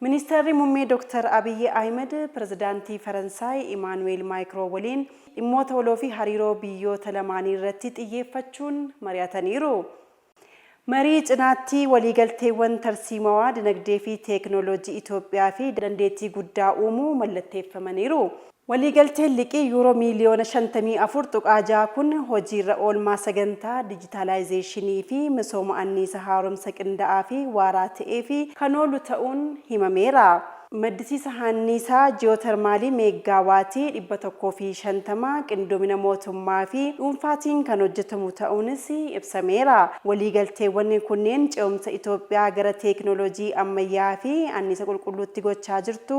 Ministeerri Muummee Dooktar Abiyyi Ahimad Pirezidaantii Faransaay Imaanuweel Maayikroo waliin dhimmoota waloo fi hariiroo biyyoota lamaanii irratti xiyyeeffachuun mari'ataniiru. Marii cinaatti waliigalteewwan tarsiimawaa dinagdee fi teeknooloojii Itoophiyaa fi dandeettii guddaa uumuu mallatteeffamaniiru. Waliigalteen liqii Yuuroo miiliyoona 54.6 kun hojiirra oolmaa sagantaa dijitaalaayizeeshinii fi misooma anniisa haaromsa qinda'aa fi waaraa ta'eef kan oolu ta'uun himameera. Maddisiisa haanniisaa ji'ootermaalii meeggaa waatii 150 qindoomina mootummaa fi dhuunfaatiin kan hojjetamu ta'uunis ibsameera. Waliigalteewwan kunneen ce'umsa Itoophiyaa gara teeknooloojii ammayyaa'aa fi anniisa qulqulluutti gochaa jirtu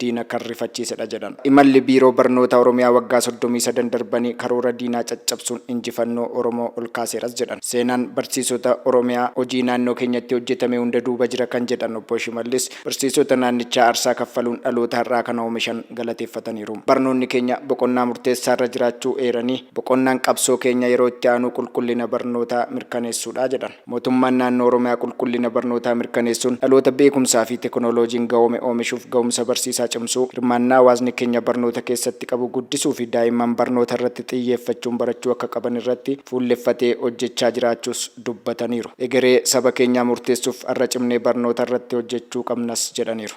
diina kan rifachiisedha jedhan. Imalli Biiroo Barnootaa Oromiyaa waggaa 33 darbanii karoora diinaa caccabsuun injifannoo Oromoo ol kaaseeras jedhan. Seenaan barsiisota Oromiyaa hojii naannoo keenyatti hojjetame hunda duuba jira kan jedhan Obbo Shimallis, barsiisota naannichaa arsaa kaffaluun dhaloota har'aa kana oomishan galateeffataniiru. Barnoonni keenya boqonnaa murteessaarra jiraachuu eeranii, boqonnaan qabsoo keenya yeroo itti aanuu qulqullina barnootaa mirkaneessuudha jedhan. Mootummaan Naannoo Oromiyaa qulqullina barnootaa mirkaneessuun dhaloota beekumsaa fi tekinooloojiin gahoome oomishuuf gahumsa barsiisaa cimsuu, hirmaannaa hawaasni keenya barnoota keessatti qabu guddisuu fi daa'imman barnoota irratti xiyyeeffachuun barachuu akka qaban irratti fuulleffatee hojjechaa jiraachuus dubbataniiru. Egeree saba keenyaa murteessuuf har'a cimnee barnoota irratti hojjechuu qabnas jedhaniiru.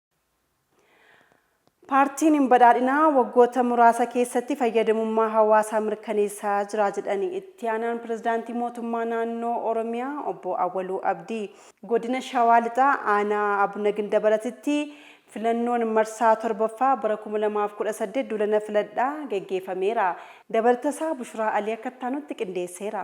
Paartiin Badhaadhinaa waggoota muraasa keessatti fayyadamummaa hawaasaa mirkaneessaa jira jedhan Itti Aanaan Pirezidaantii Mootummaa Naannoo Oromiyaa Obbo Awwaluu Abdii. Godina Shawaa Lixaa Aanaa Abuna Gindabaratitti filannoon marsaa 7ffaa bara 2018 duulana filadhaa geggeefameera. Dabalatasaa Bushuraa Alii akka ittaanutti qindeesseera.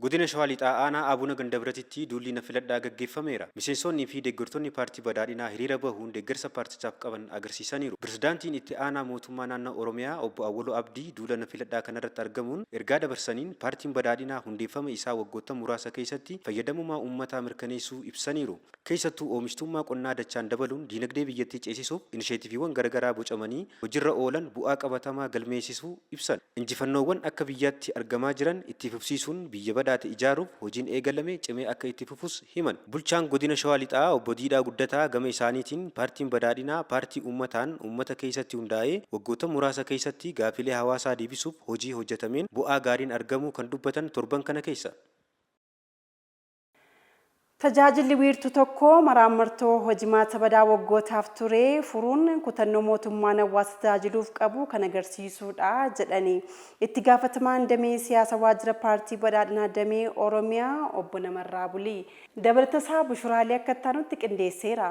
Godina Shawaa Lixaa Aanaa Abuna Gandabiratitti duulli na filadhaa gaggeeffameera. Miseensoonnii fi deeggartoonni Paartii Badhaadhinaa hiriira bahuun deeggarsa paartichaaf qaban agarsiisaniiru. Pirezidaantiin Itti Aanaa Mootummaa Naannoo Oromiyaa Obbo Awwaluu Abdii duula na filadhaa kanarratti argamuun ergaa dabarsaniin Paartiin Badhaadhinaa hundeeffama isaa waggoottan muraasa keessatti fayyadamummaa uummataa mirkaneessuu ibsaniiru. Keessattuu oomishtuummaa qonnaa dachaan dabaluun diinagdee biyyattii ceesisuuf inisheetiviiwwan garagaraa bocamanii hojirra oolan bu'aa qabatamaa galmeessisuu ibsan. Injifannoowwan akka biyyaatti argamaa jiran itti fufsiisuun biyya badhaate ijaaruuf hojiin eegalame cimee akka itti fufus himan. Bulchaan Godina Shawaa Lixaa Obbo Diidhaa Guddataa gama isaaniitiin, Paartiin Badhaadhinaa paartii uummataan uummata keessatti hundaa'ee waggoottan muraasa keessatti gaaffilee hawaasaa deebisuuf hojii hojjetameen bu'aa gaariin argamuu kan dubbatan torban kana keessa. Tajaajilli wiirtuu tokkoo maraammartoo hojimaata badaa waggootaaf ture furuun kutannoo mootummaan hawwaasa tajaajiluuf qabu kan agarsiisuudha jedhani Itti gaafatamaan damee siyaasa waajjira paartii badhaadhinaa damee Oromiyaa obbo Namarraa Bulii. Dabalatasaa Bushuraalee akka ittaanutti qindeesseera.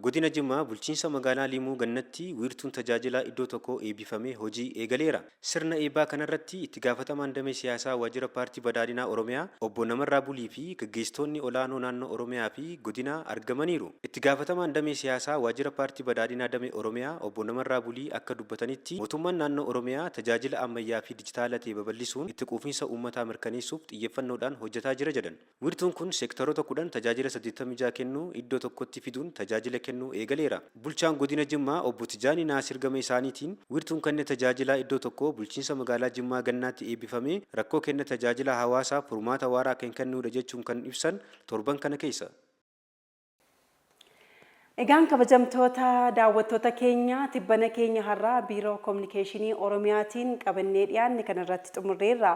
Godina Jimmaa Bulchiinsa Magaalaa Liimuu Gannatti Wiirtuun Tajaajilaa Iddoo Tokkoo Eebbifamee Hojii Eegaleera. Sirna Eebbaa kanarratti Itti Gaafatamaan Damee Siyaasaa Waajjira Paartii Badhaadhinaa Oromiyaa Obbo Namarraa Bulii fi Gaggeessitoonni Olaanoo Naannoo Oromiyaa fi Godinaa argamaniiru. Itti Gaafatamaan Damee Siyaasaa Waajjira Paartii Badhaadhinaa Damee Oromiyaa Obbo Namarraa Bulii akka dubbatanitti Mootummaan Naannoo Oromiyaa tajaajila ammayyaa fi dijitaala ta'e babal'isuun itti quufinsa uummataa mirkaneessuuf xiyyeffannoodhaan hojjetaa jira jedhan. Wiirtuun kun seektaroota 10 tajaajila 86 kennu iddoo tokkotti fiduun tajaajila kennuu eegaleera. Bulchaan Godina Jimmaa Obbo Tijaanii Naasir gama isaaniitiin, wiirtuun kenna tajaajilaa iddoo tokkoo Bulchiinsa Magaalaa Jimmaa Gannaatti eebbifamee rakkoo kenna tajaajilaa hawaasaaf furmaata waaraa kan kennuudha jechuun kan ibsan torban kana keessa. Egaan kabajamtoota daawwattoota keenya tibbana keenya har'aa Biiroo Kominikeeshinii Oromiyaatiin qabannee dhiyaanne kana irratti xumurreerra.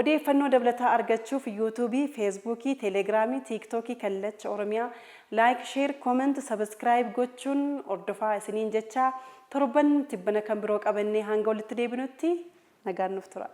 Odeeffannoo dabalataa argachuuf Yuutuubii, Feesbuukii, Teeleegiraamii, Tiiktookii Kallacha Oromiyaa Like, Share, Comment, Subscribe gochuun hordofaa isiniin jechaa torban tibbana kan biroo qabannee hanga walitti deebinutti nagaan nuuf turaa.